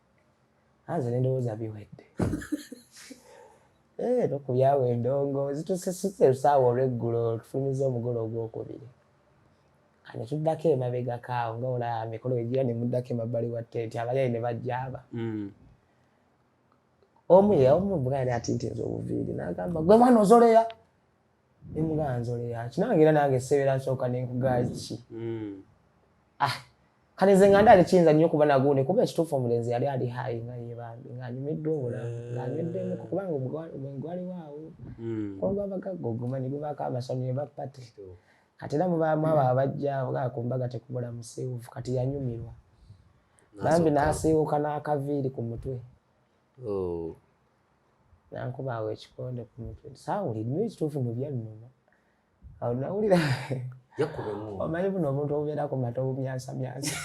anze nendowooza biwedde eh, nokubyawo endongo zitusesuse lusaawa olweggulo tufulumiza omugole ogwokubiri kane tuddako emabega kaawo nga olaba mikolo egira ne muddako emabbali wa tenti abayayi ne bajjaaba mm. omu ye omu bwali ati nti nze obuviiri nagamba gwe mwana ozoleya nemuganzole yaki nange era nange sebeera nsooka nenkugaki hmm. ah, kati nze nga ndaali kiyinza nnyo okuba nagundi kuba ekituufu omulenzi yali ali hayi nga yebambi ngaanyumiddwa obulamu eh. ngaanyweddemu kubanga omwenge gwaliwaawo hmm. olwabagagga oguma ne gubaako amasonyi ebapati kati era mubaamu abo abajja nga ku mbaga tekubula musiiwufu kati yanyumirwa bambi n'asiiwuka n'akaviiri ku mutwe Oh. nankuba awo ekikonde ku mutwe saawuli nyo ekituufu no byannuma awo nawulira omanyi buno omuntu obubeera ku mata obumyansamyansa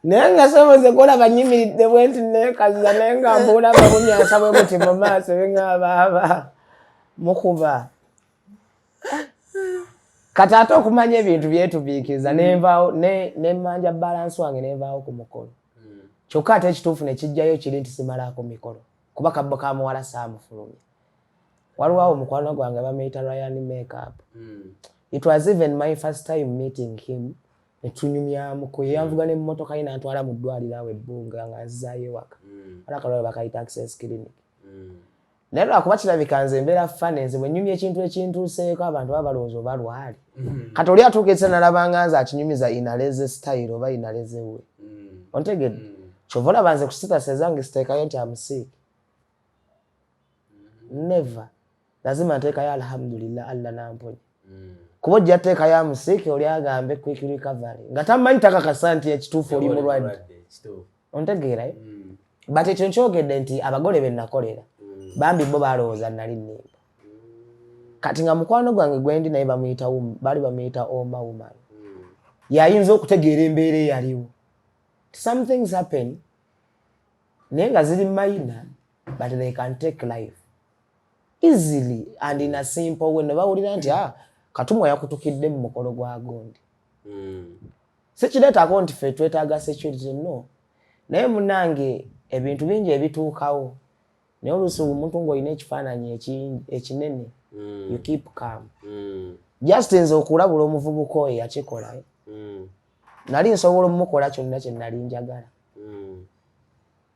naye nga soboze kulaba nyimiridde bwe nti nekaza naye nga mbuula babumyasa bwe buti mu maaso bengaabaaba mukuba kati ate okumanya ebintu byetubiikiriza mm. nenvaawo nemanja balansi wange nenvaawo ku mukolo mm. kyokka ate ekituufu nekijjayo kiri nti simalaako mikolo kuba kabbo kamuwala saamufulumya waliwo awo mukwano gwange bamuyita ryan makeup mm. it was even my first time meeting him netunyumyamuko yeyanvuga mm. nemumotoka ye nantwala mu ddwaliro awo ebbunga nga nzizayo ewaka mm. alakalwalo bakayita access clinic mm. naye lwakuba kirabika nze embeera fane nze bwenyumya ekintu ekintuuseeko abantu baba balowooza oba lwali mm-hmm. kati oli atuuka ekisa nalabanga nze akinyumiza inaleze style oba inaleze we mm. ontegedde mm. kyova olaba nze kusitasa ezange siteekayo nti amusiiki never lazima nteekayo alhamdulillah allah namponya mm. kuba ojja teeka ya musiiki oli agambe quick recovery nga tamanyi takakasa nti ekituufu oli mulwadde ontegeerayo mm. but ekyo nkyogedde nti abagole benakolera mm. bambi bo balowooza nali nimba kati nga mukwano gwange gwendi naye bamuyita bali bamuyita oma woman yayinza okutegeera embeera eyaliwo somethings happen naye nga ziri minor but they can take life easily and in a simple way nebawulira nti ah, katumwa yakutukidde mu mukolo gwa gundi mm. sikireetako nti fe twetaaga security no naye munange ebintu bingi ebituukawo naye oluusi omuntu ngaolina ekifaananyi ekinene mm. you keep calm mm. just nze okulabula omuvubuka oyo yakikola mm. nali nsobola omukola kyonna kye nali njagala mm.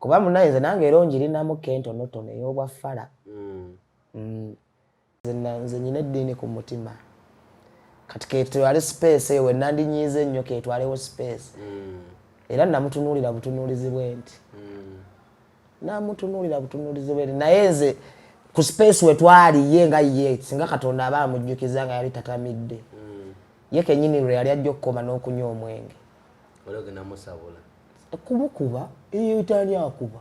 kuba munaye nze nange era onjirinamu kentonotono ey'obwa fala mm. mm. nze nyina eddiini ku mutima kati ketwale space ewe nandinyiize ennyo ketwalewo space mm. era namutunuulira butunuulizi bwe nti mm. namutunuulira butunuulizi bwe nti naye nze ku space wetwali ye nga ye singa katonda aba amujjukiza nga yali tatamidde mm. ye kenyini lwe yali ajja okukoma n'okunywa omwenge kumukuba tani akuba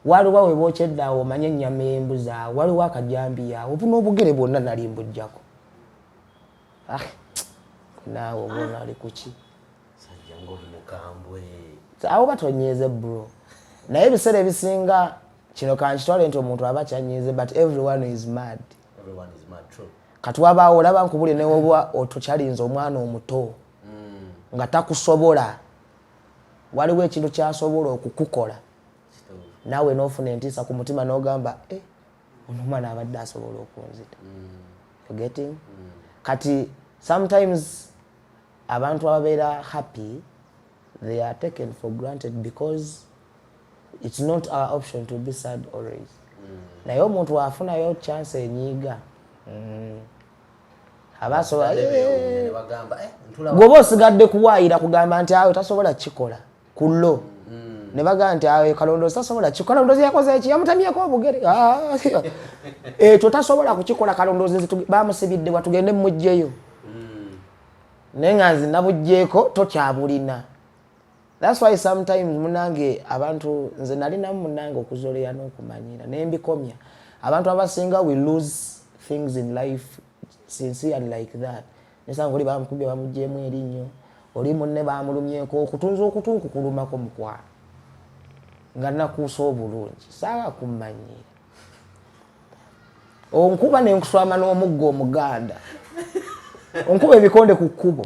waliwo we bokyedde awo omanye ennyama embuzi awo waliwo akajambiya awo obuna obugere bwonna nali mbujjako ah, naawe obona ali kuki awo batonyeeze bro naye ebiseera ebisinga kino kankitwale nti omuntu aba kyanyiize but everyone is mad kati wabaawo olaba nkubuli newoba otukyalinza omwana omuto hmm. nga takusobola waliwo ekintu kyasobola okukukola naawe nofuna entiisa ku mutima nogamba eh, ono omwana abadde asobola okunzita hmm. getting hmm. kati sometimes abantu ababeera happy they are taken for granted because it's not our option to be sad always mm. naye omuntu afunayo chance enyiiga mm. aba asobola eh. gwoba osigadde kuwaayira kugamba nti awe tasobola kikola ku lo mm. ne bagamba nti awe kalondoozi tasobola kikola kalondoozi yakoze eki yamutamyeko obugere ah. ekyo tasobola kukikola kalondoozi bamusibidde watugende mumugjeyo naye nga nzi nabugjeeko tokyabulina That's why sometimes munange abantu nze nali namu munange okuzoleya n'okumanyira naye mbikomya abantu abasinga we lose things in life sincerely like that nesanga oli bamukubye bamugyemu erinnyo oli munne bamulumyeko okutunza okutunku kulumako mukwano nga nakuusa obulungi saawa kummanyira onkuba nenkuswama n'omugga omuganda onkuba ebikonde ku kkubo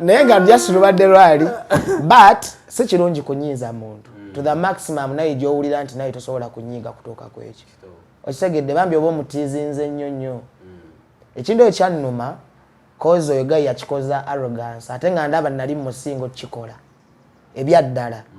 naye nga just lubadde lwali but si kirungi kunyiiza muntu to the maximum naye gyowulira nti naye tosobola kunyiiga kutuuka ku ekyo okitegedde bambi oba omutiizinze nnyo nnyo mm. ekintu ekyo kyannuma kozi oyo gayi yakikoza arrogance ate nga ndaba nali mumusinga okukikola ebyaddala mm.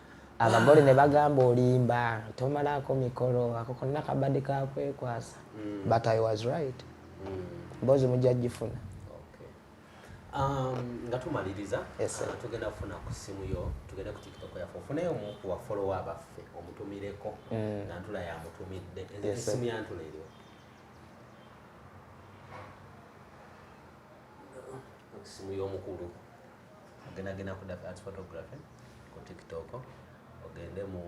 abagole ne bagamba olimba tomalako mikolo ako konna kabadde kakwekwasa mm. but i was right mm. mbozi mujja gifuna um, nga tumaliriza uh, tugenda kufuna ku simu yo tugenda ku tiktok yaffe ofuneyo omu ku bafolowa abaffe omutumireko mm. nantula yamutumidde esimu yantula eriwo simu y'omukulu ogenda genda ku dafi art photography ku tiktok ogende mu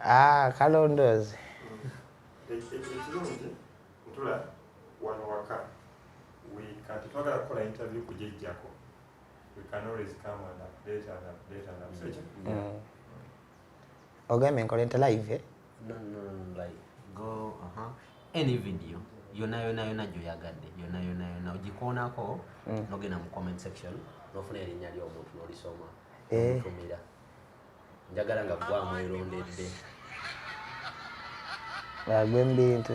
ah kalondoozi ekirungi ntula wano waka kati twagala kukola interview kujejjako we can always come and update and update and update mm. ogambye nkola nti live eh? no, no, like, go, uh -huh. any video yona yona yona gyoyagadde yona yona yona ogikoonako mm. nogenda mu comment section nofuna erinnya ly'omuntu nolisoma eh. omutumira njagala nga gwamu erondedde agwe mbintu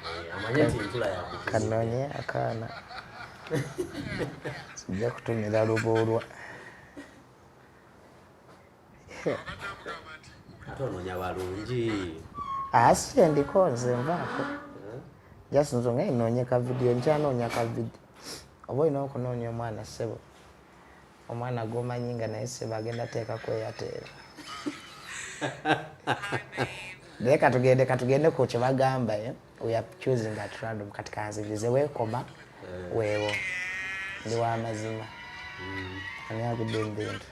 eh, amanye nti ntula yakanonye akaana sijja kutumira lubuulwa ate onoonya balungi asi ah, kyendiko nze nvaako just nzo nga inoonye ka vidiyo nkyanoonya ka vidiyo oba olina okunoonya omwana ssebo omwana gwomanyi nga naye ssebo agenda teeka kweyateera naye katugende katugende ku kyebagamba eh? we are choosing at random kati kanzirize weekoma eh. weewo ndi wamazima mm. ani agudde mbintu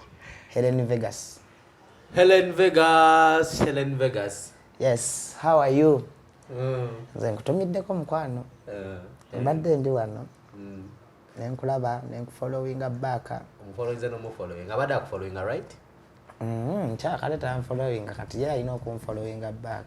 helen vegas helen vegas helen vegas yes how are you mm. nze nkutumiddeko mukwano eh. mbadde ndi wano mm. nenkulaba nenkufollowinga back omufollowinze nomufollowinga abadde akufollowinga right Mm, nkyakale tanfolowinga kati ye alina okunfolowinga back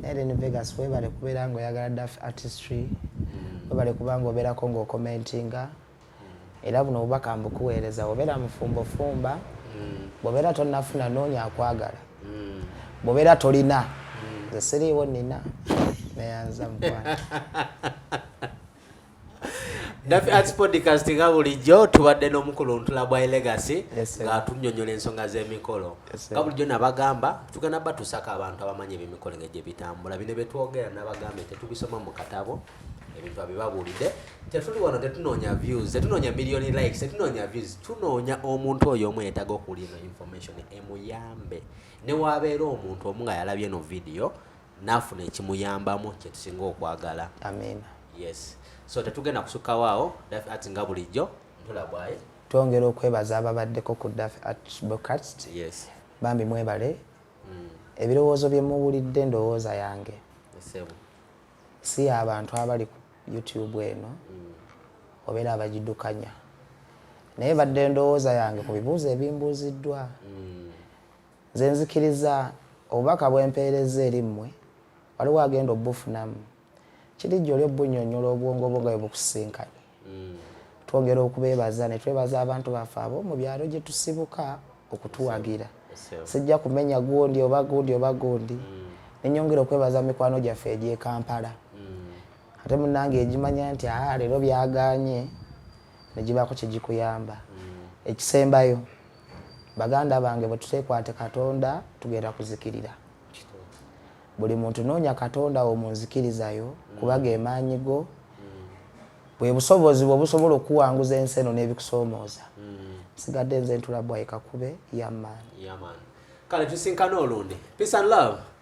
naye then vegas webale kubeera nga oyagala daf artistry mm. webale kuba nga obeerako ngaokomentinga mm. era buno obubaka mbukuweereza obeera mufumbo fumba mm. bwobeera tonafuna noonya akwagala bwobeera tolina nze siriiwo nina neyanza mukwana Dafi Arts Podcast nga bulijjo tubadde n'omukuluntula bwa Legacy ng'atunyonyola ensonga z'emikolo nga bulijjo nabagamba tugenda batusako abantu abamanyi ebyemikolo nga gye bitambula bino bye twogera nabagambe tetubisoma mu katabo ebintu abibabuulidde tetuli wano tetunoonya views tetunoonya million likes tetunoonya views tunoonya omuntu oyo omu yetaga okuwulira ino information emuyambe newabeera omuntu omu nga yalabye no vidiyo n'afuna ekimuyambamu kye tusinga okwagala amiina yes so tetugenda kusukawo awo dafi ati nga bulijjo ntula bwaye twongera okwebaza ababaddeko ku dafi at broadcast yes bambi mwebale mm. ebirowoozo bye muwulidde ndowooza yange si abantu abali ku youtube eno mm. obeera abagidukanya naye badde ndowooza yange ku bibuuzo ebimbuuziddwa mm. Nze nzikiriza obubaka bwe mpeerezza eri mmwe, waliwo agenda obufunamu. Kirijja oli obunnyonnyola obwongo bwo nga bwe bukusisinkanye. Mm. Twongera okubeebaza ne twebaza abantu baffe abo mu byalo gye tusibuka okutuwagira. Sijja kumenya gundi oba gundi oba gundi. Mm. Ne nyongera okwebaza mikwano gyaffe egy'e Kampala. Mm. Ate munnange egimanya nti aha leero byagaanye ne gibaako kye gikuyamba. Ekisembayo. baganda bange bwetutekwate katonda tugenda kuzikirira buli muntu noonya katonda wo munzikirizayo kuba gemaanyi go bwe busobozi bwe busobola okuwanguza ensi eno n'ebikusoomooza nsigadde nze ntula bwaika kube yamaani kale tusinkane olundi peace and love